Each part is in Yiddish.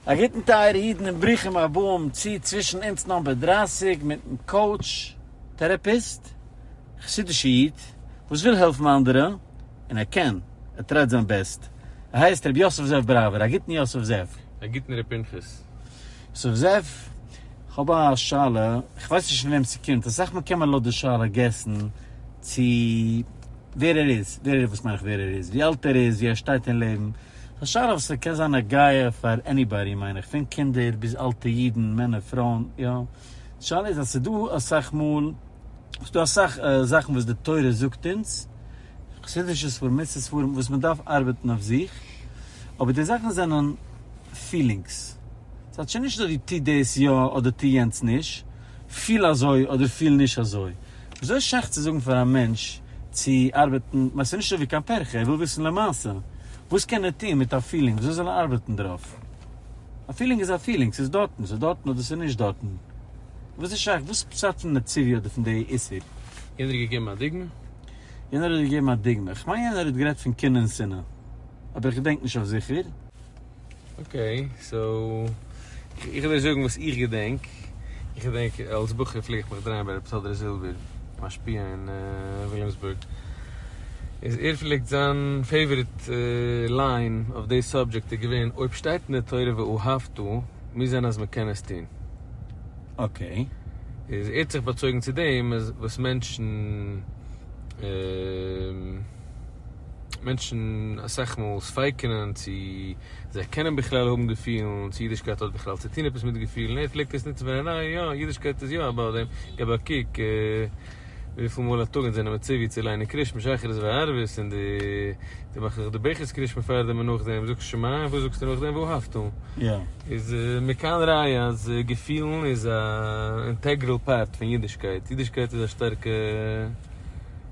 א גוטן טייערע אידן און ברוכים הבאים צו צווישן אונז נאמבער דרײַסיק מיטן קאוטש טערעפיסט, א חסידישע איד וואס וויל העלפן אנדערע און ער קען, ער טרייט זיין בעסט, ער הייסט ר' יוסף זאב בראווער, א גוטן יוסף זאב. א גוטן ר' פנחס. יוסף זאב, כ'האב א שאלה, כ'ווייס נישט פון וועם ס'קומט, אסאך מאל קען מען לויט די שאלה געסן צו ווער ער איז, ווער ער איז וואס מיין איך ווער ער איז, ווי אלט ער איז, ווי ער שטייט אין לעבן, פארשטיי איך וואס ס'קען זיין נוגע פאר עניבאדי מיין איך, פון קינדער ביז אלטע אידן, מענער פרויען, יא. די שאלה איז אז ס'איז דא אסאך מאל, ס'איז דא אסאך זאכן וואס די תורה זאגט אונז, חסידישע ספרים, מוסר ספרים, וואס מ'דארף ארבעטן אויף זיך, אבער די זאכן זענען פילינגס. ס'האט שוין נישט דא דו טו דאס יא אדער טו יענץ נישט, פיל אזוי אדער פיל נישט אזוי. וויאזוי איז שייך צו זאגן פאר א מענטש צו ארבעטן, כ'מיין ס'איז נישט אזוי קיין פרחה, ער וויל וויסן למעשה, וואס קען ער טון מיט א פילינג, וויאזוי זאל ער ארבעטן דערויף? א פילינג איז א פילינג, ס'איז דארטן, ס'איז דארטן אדער ס'איז נישט דארטן, וואס איז שייך, וואס פשט פון די ציווי אדער פון די איסור? יענער האט געגעבן א דוגמא? יענער האט געגעבן א דוגמא? כ'מיין יענער האט גערעדט פון קנאה און שנאה, אבער איך געדענק נישט אויף זיכער. אקעי, סאו, איך וועל דיר זאגן וואס איך געדענק, איך געדענק אלס בחור פלעג איך מיך דרייען ביי רבי טודרוס זילבער, משפיע אין וויליאמסבורג, איז ער פלעגט זיין פעיוואריט ליין אויף די סאבדזשעקט איז געווען, אויב שטייט אין די תורה ואהבתו, מוז זיין אז מ'קען עס טון. אקעי. איז ער האט זיך באצויגן צו דעם וואס מענטשן. מענטשן אסאך מאל ספיק'נען צו זיי קענען בכלל האבן געפילן, צו אידישקייט האט בכלל צו טון עפעס מיט געפילן, ער פלעגט עס נוצן פאר א נייע יא, אידישקייט איז יא א בארדען, געב א קוק וויפיל מאל א טאג אונז זענען מציווי צו ליינען קרישמע שחרית וערבית און דו מאכסט זיך די ברכת קרישמע פאר דעם און נאכדעם זאגסט שמע און וואס זאגסטו נאכדעם ואהבתו, איז מכאן ראיה אז געפילן איז א אינטעגרעל פארט פון אידישקייט, אידישקייט איז א שטארקע.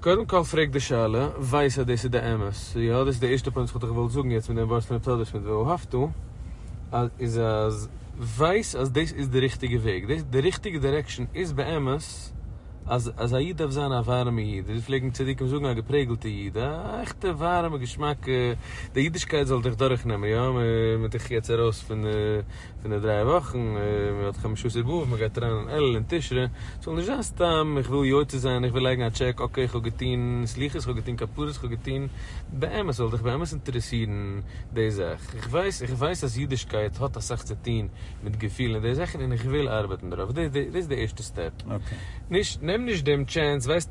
קודם כל פרעג די שאלה, ווייס אז דאס איז די אמת, יא דאס איז די ערשטע פוינט וואס כ'וואלט דיך געוואלט זאגן יעצט מיט דעם ווארסט נתודות מיט ואהבתו, איז אז ווייס אז דאס איז די ריכטיגע וועג, דאס די ריכטיגע דירעקשאן איז באמת אז אז א איד דארף זיין א ווארעמע איד, ווי פלעגן צדיקים זאגן א געפרעגלטע איד, א עכטע ווארעמע געשמאקע, די אידישקייט זאל דיך דורכנעמען, יא, מען מען דיך יעצט ארויס פון. פון די דריי וואכן, מען האט חמשה עשר באב, מען גייט אריין אין אלול און תשרי, ס'זאל נישט זיין סתם איך וויל יוצא זיין, איך וויל לייגן א טשעק, אקעי איך האב געטון סליחות, איך האב געטון כפרות, איך האב געטון, באמת, ס'זאל דיך באמת אינטערעסירן די זאך, איך ווייס, איך ווייס אז אידישקייט האט אסאך צו טון מיט געפילן און די זאכן און איך וויל ארבעטן דערויף, דאס איז די ערשטע סטעפ, נישט, נעם נישט דעם טשענס, ווייסט.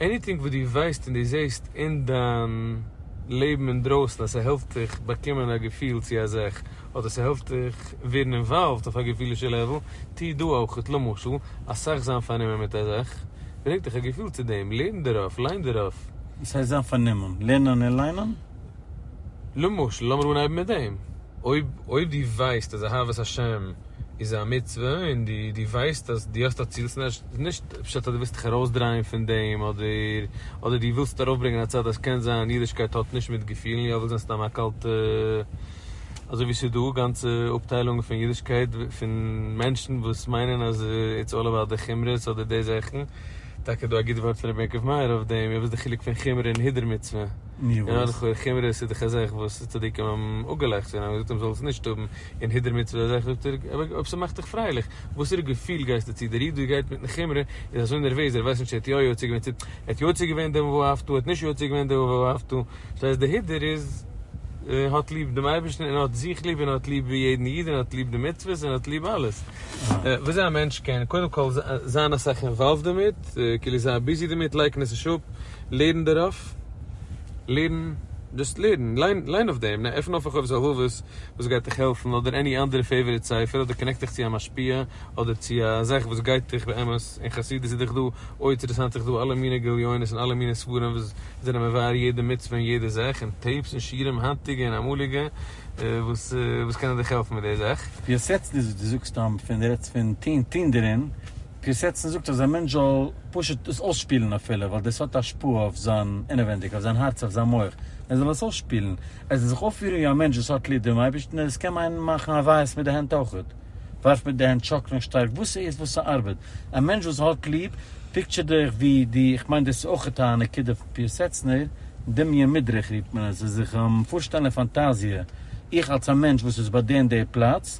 עניטינג וואס דו ווייסט און דו זעסט אין דיין לעבן אינדרויסן אז ס'העלפט דיך באקומען א געפיל צו א זאך, אדער ס'העלפט דיך ווערן אינוואלווד אויף א געפילישע לעוול, טוה דא אויך. למשל, אסאך זיין פארנומען מיט א זאך ברענגט דיך א געפיל צו דעם, לערן דערויף, ליין דערויף. וואס הייסט זיין פארנומען? לערנען און ליינען? למשל, לאמיר אנהייבן מיט דעם, אויב אויב דו ווייסט אז אהבת השם איז א מצוה און דו דו ווייסט אז דו האסט א ציל, ס'נישט נישט פשט אז דו ווילסט דיך ארויסדרייען פון דעם אדער אדער דו ווילסט ארויפברענגען א צד אז קען זיין אידישקייט האט נישט מיט געפילן יא וויל זיין סתם א קאלטע אזוי ווי ס'איז דא גאנצע אפטיילונגען פון אידישקייט פון מענטשן וואס מיינען אז איטס אלל אבאוט די חומרות אדער די זאכן, טאקע דא א גוט ווארט פון רבי יעקב מאיר אויף דעם, וואס איז די חילוק פון חומרא און הידור מצוה? נו וואס? און נאך חומרא סידכע זאך וואס איז צדיקים האבן אפגעלייכט פון אים, געזאגט אים זאלסט נישט האבן, און הידור מצוה אזעלכע זאגט ער, אבער אויב ס'מאכט דיך פרייליך, וואסערע געפיל גייסטו צו, דער איד וואס גייט מיטן חומרא איז אזוי נערוועז ער ווייסט נישט צו ער האט יא יוצא געווען צו ער האט יוצא געווען דעם ואהבתו, ער האט נישט יוצא געווען דעם ואהבתו, דאס הייסט דער הידור איז האט ליב דעם אייבערשטן און האט זיך ליב און האט ליב יעדן איד און האט ליב די מצוות און האט ליב אלעס, וויאזוי א מענטש קען קודם כל זיין אסאך אינוואלווד דערמיט, כאילו זיין ביזי דערמיט, לייקן עס נישט אפ, לערן דערויף. לערן, דזשאסט לערן, ליין ליין אויף דעם, עפן אויף רחוב זהובות וואס גייט דיך העלפן, אדער עני אנדערע פעיוואריט ספר, אדער קאנעקט דיך צו א משפיע, אדער צו א זאך וואס גייט דיך באמת, אין חסידות איז דאך דא אויטערעסאנט איך דא אלע מיני גליונות און אלע מיני ספרים וואס זענען מבאר יעדע מצוה און יעדע זאך, און טעיפס און שיעורים היינטיגע און אמאליגע וואס וואס קענען דיך העלפן מיט די זאך. פיאסעצן איז וואס דו זאגסט סתם פון דו רעדסט פון טון טון דערין, פיאסעצן זאגט אז א מענטש זאל. פשוט דאס אויסשפילן אפילו ווייל דאס האט השפעה אויף זיין אינעווענדיג, אויף זיין הארץ, אויף זיין מח, ער זאל עס אויסשפילן, ער זאל זיך אויפפירן ווי א מענטש וואס האט ליב דעם אייבערשטן און עס קען מיינען מאכן הוויות מיט די הענט אויכעט, ווארפן מיט די הענט, שאקלען שטארק, וואס ס'איז וואס ס'ארבעט, א מענטש וואס האט ליב, פיקטשער דיך ווי די, איך מיין דאס איז אויכעט א נקודה פון פיאסעצנער, דמיון מדרך רופט מען עס, זיך פארשטעלן אין פאנטאזיע, איך אלס א מענטש וואס איז ביי די און די פלאץ,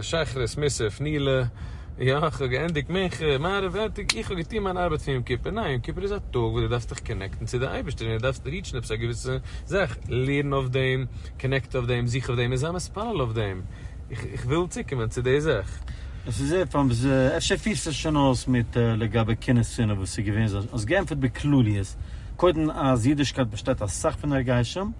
שחרית, מוסף, נעילה, יא, כ'האב געענדיגט מנחה, מעריב, ארטיג, איך האב געטון מיין ארבעט פון יום כיפור, ניין, יום כיפור איז א טאג וואס דו דארפסט דיך קאנעקטן צו די אייבערשטער און דו דארפסט ריעטשן עפעס א געוויסע זאך, לערן אויף דעם, קאנעקט אויף דעם, זוך אויף דעם און זיי מתפלל אויף דעם, איך וויל צוקומען צו די זאך. עס איז עפעס, אפשר פירסט עס שוין אויס מיט לגבי קנאה שנאה וואס איז געווען, האסט געענטפערט בכלליות, קודם אז אידישקייט באשטייט אסאך פון הרגשים,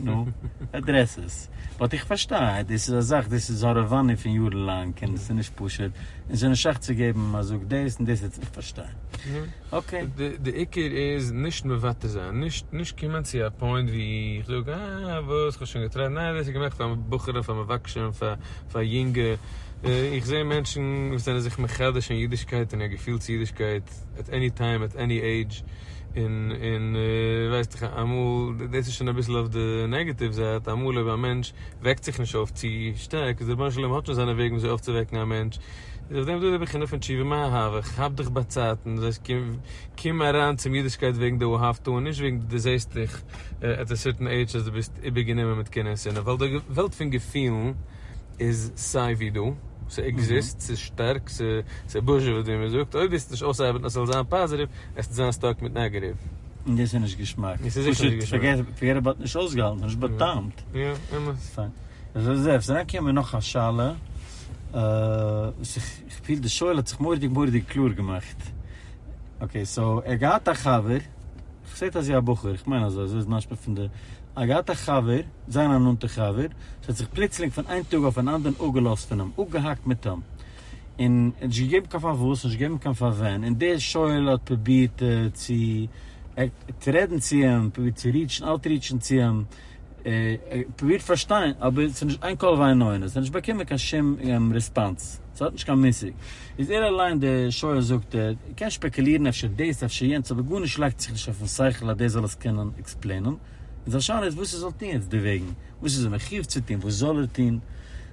נו, עדרעס עס. באט איך פארשטיי דאס איז א זאך דאס איז הארעוואניע פון יארן לאנג און עס איז נישט פשוט און עס איז נישט שייך צו געבן אז זאג דאס און דאס איך פארשטיי. אקעי. די עיקר איז נישט מוותר זיין, נישט נישט קומען צו א פוינט ווי איך זאג אה וואס כ'האב שוין געטרייט, ניין דאס איז געמאכט פאר בחורים פאר מבקשים פאר פאר יונגע, איך זע מענטשן וואס זענען זיך מחדש אין אידישקייט און א געפיל צו אידישקייט עט עני טיים עט עני עידזש. און און ווייסט איך אמאל דאס איז שוין אביסל אויף די נעגעטיוו זייט אמאל אויב א מענטש וועקט זיך נישט אויף צו שטארק איז דער רבונו של עולם האט שוין זיינע וועגן וויאזוי אויפצווועקן א מענטש איז אויף דעם דא די בחינה פון תשובה מה אהבך האב דיך באצייטן דאס הייסט קום קום אריין צום אידישקייט וועגן די אהבת און נישט וועגן דו זעסט דיך עט א סערטען עידזש אז דו ביסט איבערגענומען מיט קנאה און שנאה ווייל די וועלט פון געפילן איז סיי ווי דא, ס'עקזיסט, ס'איז שטארק, ס'בוזשעוועט ווי מ'זאגט, אויב וועסט נישט אויסארבעטן אז ס'זאל זיין פאזיטיוו, עסטו זיין סטאק מיט נעגעטיוו. און דאס איז נישט געשמאק. פשוט פארגעט עבאוט נישט אויסגעהאלטן, ס'נישט בא'טעמ'ט. יא, אמת. פיין. איך זע עס אריינקומען מיט נאך א שאלה, וואס איך פיל די שואל האט זיך מורא'דיג מורא'דיג קלאר געמאכט. אקעי, סאו ער האט געהאט א חבר, כ'זע עס איז א בחור, כ'מיין אזוי, אזוי איז משמע פון די. ער האט געהאט א חבר, זיין א נאנטע חבר, וואס האט זיך פלוצלינג פון איין טאג אויפן אנדערן אפגעלאזט פון אים, אפגעהאקט מיט אים, און ער האט נישט געגעבן קיין פארוואס, נישט געגעבן קיין פארווען, און דער שואל האט פרובירט צו רעדן צו אים, פרובירט צו ריעטשן, אוטריעטשן צו אים, פרובירט פארשטיין, אבער ס'איז נישט איין קול ואין עונה, ס'האט נישט באקומען קיין שום ריספאנס. ס'האט נישט קיין מושג. איז ער אליין דער שויער זאגט ער, ער קען שפעקעלירן אפשר דאס אפשר יענץ אבער גארנישט לייגט זיך נישט אויפן שכל אז דער זאל עס קענען עקספלעינען. און זיין שאלה איז וואס ער זאל טון יעצט דערוועגן. וואס איז ער מחיוב צו טון? וואס זאל ער טון?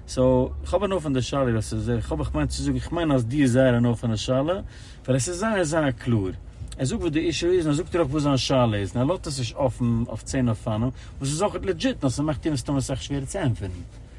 סאו, כ'האב הנאה פון די שאלה ווייל ס'איז זייער, כ'האב איך מיין צו זאגן כ'מיין אז דו האסט זייער הנאה פון די שאלה ווייל עס איז זייער זייער קלאר. ער זאגט וואס די אישו איז און ער זאגט דיר אויך וואס זיין שאלה איז און ער לאזט עס נישט אפן אויף צען אופנים וואס איז אויך לעדזשיט נאר ס'מאכט איהם מסתמא סאך שווערער צו ענטפערן.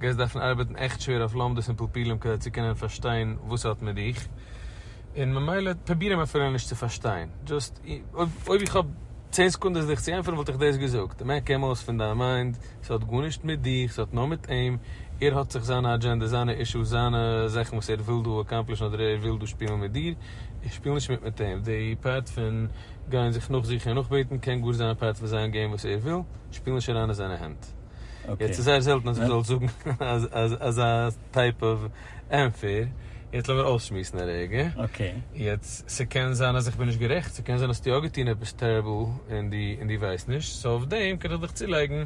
גייסט דארפן ארבעטן עכט שווער אויף לומדות און פלפולים כדי צו קענען פארשטיין וואס ס'האט מיט דיך, און ממילא פרוביר אים אפילו נישט צו פארשטיין, דזשאסט אויב איך האב צען סעקונדעס דיך צו ענטפערן וואלט איך דאס געזאגט, מעק אים אויס פון דיין מיינד, ס'האט גארנישט מיט דיך, ס'האט נאר מיט אים, ער האט זיך זיינע אדזשענדעס, זיינע אישוס, זיינע זאכן וואס ער וויל דא אקאמפלישן אדער ער וויל דא שפילן מיט דיר, איך שפיל נישט מיט מיט אים, די פארט פון גיין זיך נאכזוכן און נאכבעטן קען גאר זיין פארט פון זיין געים וואס ער וויל, שפיל נישט אריין אין זיינע הענט. יעצט איז זייער זעלטן אז איך זאל זאגן אזא טייפ אוו ענפער, יעצט לאמיר אויסשמועסן א רגע, יעצט ס'קען זיין אז איך בין נישט גערעכט, ס'קען זיין אז האסט יא געטון עפעס טעריבל און די ווייסט נישט, סאו אויף דעם קען איך דיך צולייגן,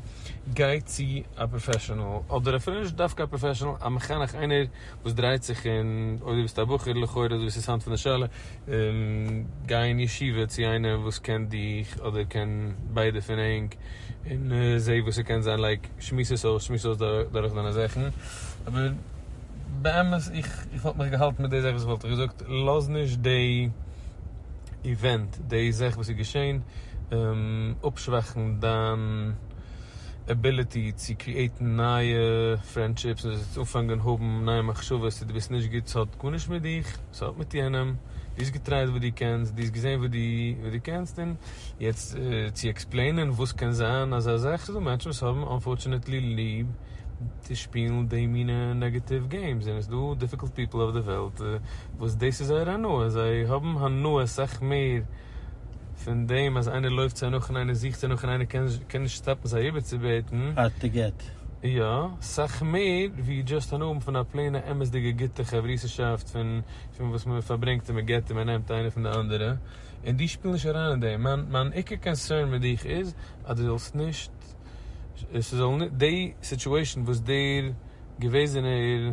גיי צו א פראפעשענעל, אדער אפילו נישט דווקא א פראפעשענעל, א מחנך, איינער וואס דרייט זיך אין, אויב דו ביסט א בחור לכאורה, אזוי ווי ס'איז היינט פון די שאלה, גיי אין ישיבה צו איינעם וואס קען דיך אדער קען ביידע פון ענק און זע וואס ס'קען זיין לייק שמועס עס אויס שמועס אויס דורך דיינע זאכן אבער באמת איך וואלט מיך געהאלטן מיט די זאך וואס איך וואלט דיך געזאגט לאז נישט די איווענט די זאך וואס איז געשעהן אפשוואכן דיין עביליטי צו קריעטן נייע פרענדשיפס און זיך אנפאנגען האבן נייע מחשבות צו דו ביסט נישט גוט ס'האט גארנישט מיט דיך ס'האט מיט יענעם דו האסט געטרייט וואס דו קענסט דו האסט געזען וואס דו קענסט און יעצט צו עקספלעינען וואס קען זיין אזא זאך ס'איז דא מענטשן וואס האבן אנפארטשענעטלי ליב צו שפילן די מינע נעגעטיוו געימס און ס'דא דיפיקולט פיפל אויף די וועלט וואס דאס איז זייער הנאה זיי האבן הנאה סאך מער פון דעם אז איינער לויפט זיי נאך און איינער זוכט זיי נאך און איינער קען קען נישט סטאפן זיי איבערצובעטן. הארד טו געט. יא, סאך מער ווי דזשאסט אן אבנט פון א פלעינע אמת'דיגע גוטע חברות'שאפט פון פון וואס מען פארברענגט און מען געט און מען נעמט איינער פון די אנדערע, און דו שפיל נישט אריין אין דעם. מיין מיין עיקר קאנסערן מיט דיך איז אז דו זאלסט נישט ס'זאל נישט די סיטועשאן וואס דער געוועזענער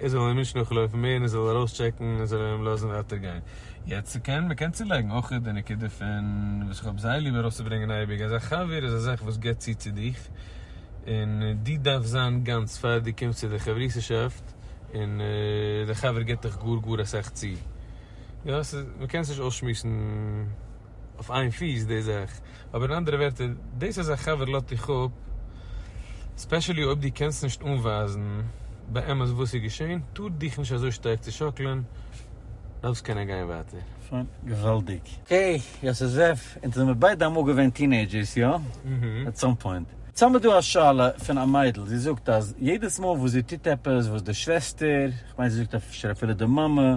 ער זאל אים נישט נאכלויפן מער און ער זאל ארויסטשעקן און זאל אים לאזן ווייטער גיין. יעצט קען מען קען צולייגן אויך די נקודה פון וואס איך האב זייער ליב ארויסצוברענגען אייביג אז א חבר איז א זאך וואס גיבט צו צו דיך און דו דארפסט זיין גאנץ פאר דו קומסט צו די חברות'שאפט און די חבר גיבט דיך גאר גאר אסאך צו יא ס'איז מ'קען עס נישט אויסשמועסן. אויף איין פיס די זאך, אבער אין אנדערע ווערטער, דאס אז א חבר לאט דיך אפ, ספעשעלי אויב דו קענסט נישט אנווייזן באמת וואס איז געשען, טאר דיך נישט אזוי שטארק צושאקלען, דארפסט קענען גיין ווייטער. שוין, געוואלדיג. העי, יאסעזעף, אונז זעמיר ביידע אמאל געווען טינעידזשערס, יא? עט סאם פוינט. סא מ'דא א שאלה פון א מיידל, זי זאגט אז יעדעס מאל וואס זי טוט עפעס וואס די שוועסטער, כ'מיין זי זאגט אפשר אפילו די מאמע,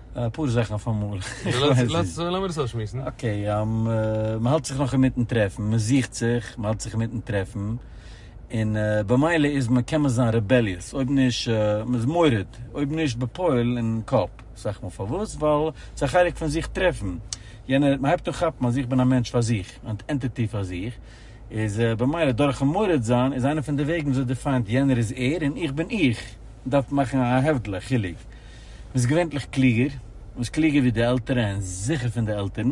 אפאר זאכן אויפאמאל. לאמיר עס אויסשמועסן. אקעי, מ'האלט זיך נאך אינמיטן טרעפן, מ'זוכט זיך, מ'האלט זיך אינמיטן טרעפן, און במילא איז מען, קען מען זיין רעבעליעס, אויב נישט, מ'איז מורד, אויב נישט בפועל, אין קאפ. סך מאל פארוואס? ווייל ס'איז א חלק פון זיך טרעפן. יענער, מ'הייבט אן כאפן אז איך בין א מענטש פאר זיך, אן ענטיטי פאר זיך, איז במילא דורכ'ן מורד זיין איז איינע פון די וועגן וויאזוי דיפיינט יענער איז ער און איך בין איך. מ'דארף מאכן א הבדלה, חילוק. ביסט געווענטליך קלוגער, ביסט קלוגער ווי די עלטערע און זיכער פון די עלטערן.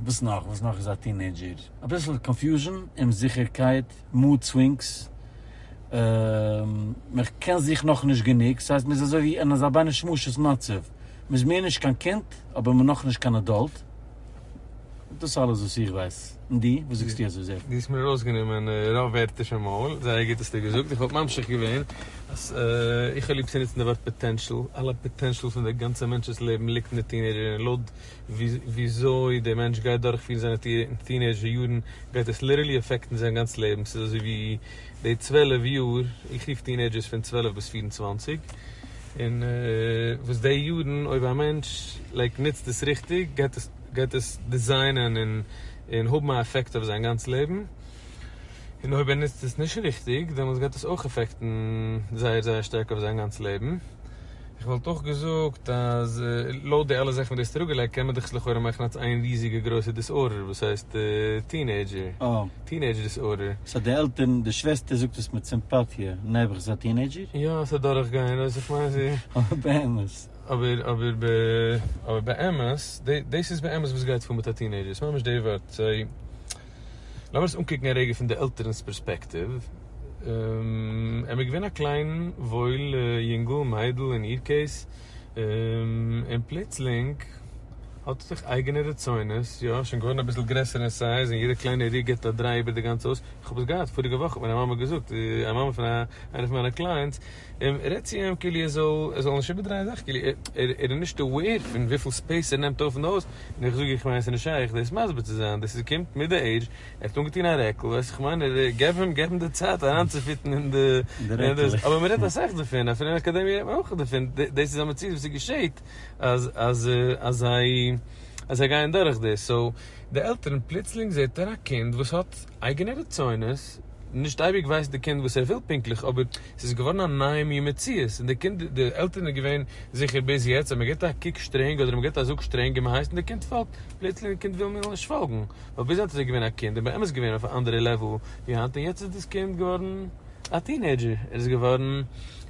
וואס נאך? וואס נאך איז א טינעידזשער? אביסל קאנפיוזשן, אומזיכערקייט, מאד סווינגס. מען קען זיך נאכנישט גענוג, ס'הייסט מען איז אזוי ווי אין אזא ביינע שמשות מצב. מען איז מער נישט קיין קינד, אבער מען נאכנישט קיין עדאלט. דאס אלעס וואס איך ווייס. און דו? וואס זאגסטו אז עס איז? דו האסט מיר ארויסגענומען רוב ווערטער פון מויל, זייער גוט האסטו געזאגט, איך וואלט ממשיך געווען אז איך האב ליב צו נוצן די ווארט פאטענשאל, אלע פאטענשאל פון דער גאנצער מענטש'ס לעבן ליגט אין די טינעידזשער יארן, לויט וויאזוי דער מענטש גייט דורכפירן זיינע טינעידזשער יארן גייט עס ליטערלי אפעקטן זיין גאנץ לעבן, ס'איז אזויווי די צוועלף יאר, איך רוף טינעידזשערס פון צוועלף ביז פֿיר און צוואַנציק. און וואס די יארן אויב א מענטש לייק נוצט עס ריכטיג גייט עס גייט עס דיזיינען און און האבן א עפעקט אויף זיין גאנץ לעבן, און אויב ער נוצט עס נישט ריכטיג דעמאלטס גייט עס אויך עפעקטן זייער זייער שטארק אויף זיין גאנץ לעבן, איך וואלט אויך געזאגט אז לויט די אלע זאכן וואס די האסט אראפגעלייגט קען מען דאך לכאורה מאכן אלס איין ריזיגע גרויסע דיסארדער וואס הייסט טינעידזשער. טינעידזש דיסארדער. סא די עלטערן, די שוועסטער זאגט עס מיט סימפאטיע, נעבעך זיי א טינעידזשער? יא עס איז דורכגענג, ווייסט איך מיין זי. אבער באמת. אבער אבער ב אבער באמת, די דאס איז באמת וואס גייט פאר מיט א טינעידזשער, עס ממש די ווארט, זיי, לאמיר עס אנקוקן א רגע פון די עלטערן'ס פערספעקטיוו, ער איז געווען א קליין וואויל יונגל, מיידל אין איר קעיס, און פלוצלינג האט עס זיך אייגענע רצונות, יא, שוין געווארן אביסל גרעסער אין סייז און יעדע קליינע ריק געט א דריי איבער די גאנצע הויז, איך האב עס געהאט, פאריגע וואך האט מיר א מאמע געזאגט, א מאמע פון איינע פון מיינע קלייענטס, רעד צו אים כאילו ער זאל ער זאל נישט איבערדרייען זאכן, כאילו ער ער איז נישט אוועיר פון וויפיל ספעיס ער נעמט אויף אין די הויז, און איך זאג איך מיין עס איז נישט שייך דאס מסביר צו זיין, דאס איז קומט מיט די עידזש. ער האט אנגעטון א רעקל, ווייס איך מיין ער געב אים געב אים די צייט אריינצופיטן אין די רעקל, אבער מען רעדט אסאך דערפון, אפילו אין אקאדעמיע רעדט מען אויך דערפון, דאס איז א מציאות וואס געשעהט אז אז אז זיי אז זיי גייען דורך דאס, סאו די עלטערן פלוצלינג זעהט ער א קינד וואס האט אייגענע רצונות, נישט אייביג ווייסט די קינד וואס ער וויל פונקטליך אבער ס'איז געווארן א נייע מין מציאות און די קינד די עלטערן איז געווען זיכער ביז יעצט אז מען געבט א קוק שטרענג אדער מען געבט א זאג שטרענג און מען הייסט און די קינד פאלגט, פלוצלינג די קינד וויל מער נישט פאלגן, ווייל ביז היינט איז ער געווען א קינד און באמת געווען אויף א אנדערע לעוועל ווי היינט און יעצט איז דאס קינד געווארן א טינעידזשער, ער איז געווארן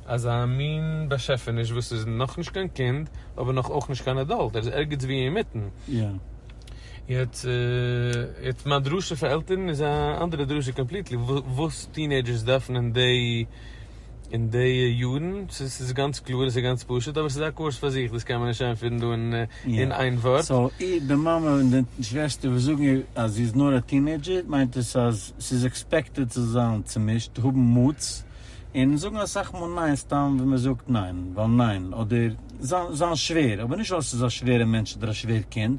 אזא מין באשעפעניש וואס איז נאכנישט קיין קינד אבער נאך אויך נישט קיין עדאלט, ער איז ערגעץ ווי אינמיטן. יעצט מיין דרשה פאר עלטערן איז א אנדערע דרשה קאמפליטלי, וואס טינעידזשערס דארפן אין די. אין די יארן, ס'איז ס'איז גאנץ קלאר און ס'איז גאנץ פשוט, אבער ס'איז א קורס פאר זיך, דאס קען מען נישט איינפירן דא אין איין ווארט. סאו איר, די מאמע און די שוועסטער וואס זאגן איר אז זי איז נאר א טינעידזשער, מיינט עס אז ס'איז עקספעקטעד צו זיין צומישט, האבן מוטס, און זאגן אסאך מאל ניין סתם ווי מען זאגט ניין ווייל ניין, אדער זיין שווער, אבער נישט ווייל ס'איז א שווערע מענטש אדער א שווער קינד,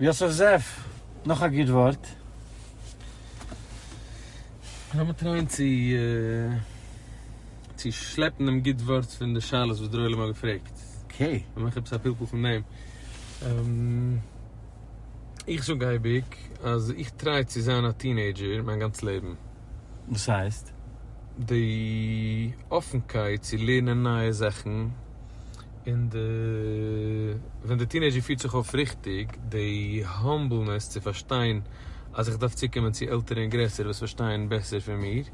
יוסף זאב, נאך א גוט ווארט. לאמיר טרייען צו צו שלעפן דעם גוט ווארט פון די שאלות וואס דר'עולם האט געפרעגט. אקעי. און מאך עפעס א פלפול פון דעם. איך זאג אייביג אז איך טריי צו זיין א טינעידזשער מיין גאנץ לעבן. וואס הייסט? די אפנקייט צו לערנען נייע זאכן. און די ווען די טינעידזשער פירט זיך אויף ריכטיג, די האמבלנעס צו פארשטיין אז איך דארף צוקומען צו עלטערע און גרעסערע וואס פארשטייען בעסער פון מיר,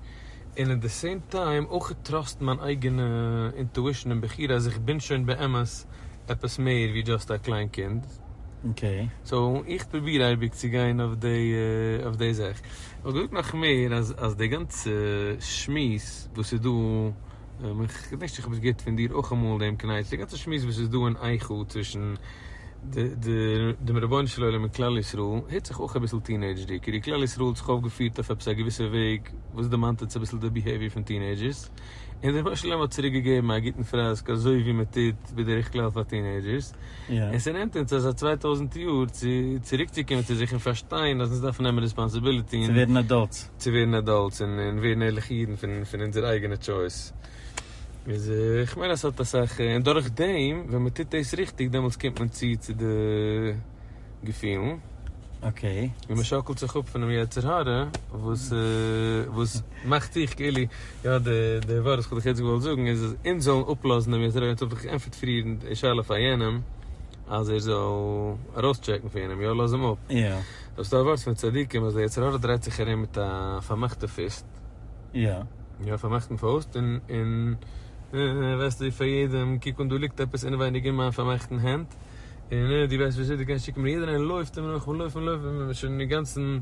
און אין די סעים טיים אויך טראסט מיין אייגענע אינטואישן און בחירה אז איך בין שוין באמת עפעס מער ווי דזשאסט א קליין קינד. סאו איך פרוביר אייביג צו גיין אויף אויף די זאך. איך וואלט געזאגט נאך מער אז די גאנצע שמועס וואס איז דא. איך געדענק נישט איך האב עס געהערט פון דיר אויך אמאל דעם קנייטש די גאנצע שמועס וואס איז דא אין איכה צווישן דעם רבונו של עולם און כלל ישראל הערט זיך אויך אביסל טינעידזשדיג כאילו כלל ישראל האט זיך אויפגעפירט אויף עפעס א געוויסע וועג וואס דערמאנט אונז אביסל די ביהעיוויער פון טינעידזשערס און דער רבונו של עולם האט צוריק געגעבן א גוטן פראסק אזוי ווי מען טוט בדרך כלל פאר טינעידזשערס און ס'נעמט אונז אזא צוויי טויזנט יאר צו צוריקצוקומען צו זיך און פארשטיין אז אונז דארפן נעמען רעספאנסיביליטי און צו ווערן עדאלטס. צו ווערן עדאלטס און ווערן ערליכע אידן פון אונזער אייגענע טשויס, איז איך מיין אז ס'האט אסאך, און דורך דעם ווען מ'טוט דאס ריכטיג דעמאלטס קומט מען צו צו די געפילן, און מ'שאקלט זיך אפ פונעם יצר הרע וואס וואס מאכט זיך כאילו, יא די ווארט וואס כ'האב דיך יעצט געוואלט זאגן איז אז אונז זאלן אפלאזן דעם יצר הרע, אונז האב דאך געענטפערט פריער די שאלה פאר יענעם אז ער זאל ארויסטשעקן פונעם, יא לאזן אים אפ, האסט א ווארט פון צדיקים אז די יצר הרע דרייט זיך ארום מיט א פארמאכטע פיסט? יא. יא פארמאכטן פויסט און און וועסט ווי פאר יעדעם קוק אן דא ליגט עפעס אינעווייניג אין מיין פארמאכטן הענט און דו ווייסט נישט ווי אזוי דו קענסט שיקן מיר יעדער איינער לויפט אים נאך מען לויפט מען לויפט מען איז שוין אינגאנצן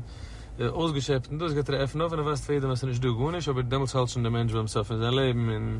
אויסגעשעפט און דאס גייט ער עפענען אויף און ער ווייזט פאר יעדעם אז ס'איז נישט דא גארנישט אבער דעמאלטס האלט שוין דער מענטש ביים סוף פון זיין לעבן און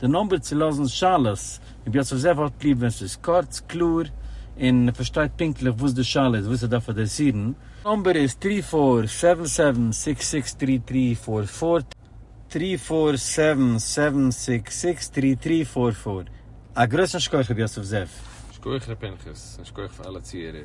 די נומבער צו לאזן שאלות, רבי יוסף זאב האט ליב ווען ס'איז קורץ, קלאר, און מ'פארשטייט פונקטליך וואס די שאלה איז, וואס ער דארף אדרעסירן. נומבער איז טרי פאר סעווען סעווען סיקס סיקס טרי טרי פאר פאר, טרי פאר סעווען סעווען סיקס סיקס טרי טרי פאר פאר. א גרויסן שכח רבי יוסף זאב. שכוח ר' פנחס, און שכוח פאר אלע צוהערער.